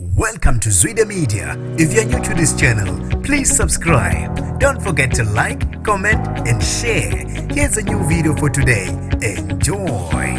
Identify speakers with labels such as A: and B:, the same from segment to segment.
A: Welcome to Zwide Media. If you're new to this channel, please subscribe. Don't forget to like, comment and share. Here's a new video for today. Enjoy.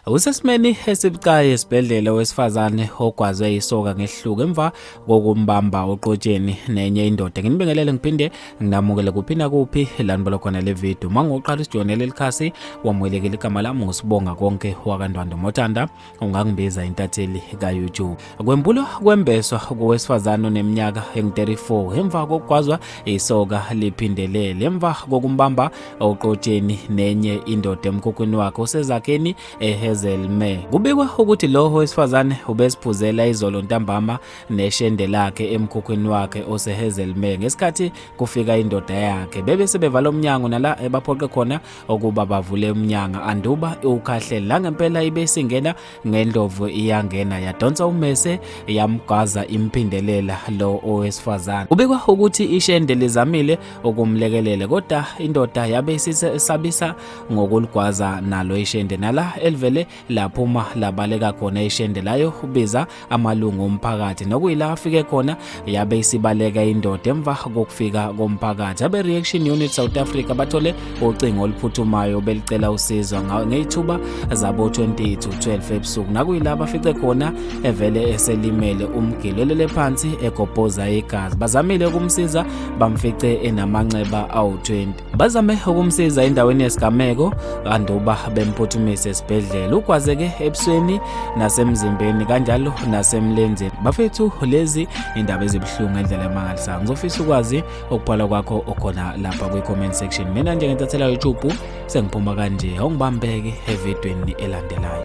B: Usesimeni esibucayi esibhedlela wesifazane ogwazwe isoka ngehluko emva kokumbamba oqotsheni nenye indoda. Nginibingelele ngiphinde nginamukele kuphi nakuphi lanibolo khona le video. Uma ngoqala usijonele likhasi wamwelekela igama lami ngosibonga konke wakandwando motanda. ungangibiza intatheli ka-youtube kwempulo kwembeswa kowesifazane oneminyaka engu-34 emva kokugwazwa isoka liphindelele emva kokumbamba oqotsheni nenye indoda emkhukhwini wakhe usezakheni ehazelme kubikwa ukuthi lowo wesifazane ubesiphuzela izolo ntambama neshende lakhe emkhukhwini wakhe osehazelme ngesikhathi kufika indoda yakhe bebe sebevala umnyango nala ebaphoqe khona ukuba bavule umnyanga anduba iwukhahlele la ngempela ibe isingena ngendlovu iyangena yadonsa umese yamgwaza imphindelela lo owesifazane ubikwa ukuthi ishende lizamile ukumlekelela kodwa indoda yabe isisabisa ngokuligwaza nalo ishende nala elivele lapho uma labaleka khona ishende layo ubiza amalungu omphakathi nokuyila afike khona yabe isibaleka indoda emva kokufika komphakathi abe reaction unit South Africa bathole ucingo oluphuthumayo belicela usizo ngeyithuba zabo 20 to 12 ebusuku nakuyila bafice khona evele eselimele umgilelele phansi egobhoza igazi bazamile ukumsiza bamfice enamanxeba awu 20 Bazame ukumsiza endaweni yesigameko kanti uba bemphuthumise esibhedlela. Ugwazeke ebusweni nasemzimbeni kanjalo nasemlenzeni. Bafethu lezi indaba ezibuhlungu endlela emangalisayo. Ngizofisa ukwazi okubhala kwakho okhona lapha kwi-comment section. Mina nje ngentathelwa YouTube sengiphuma kanje. Awungibambeke evidweni elandelayo.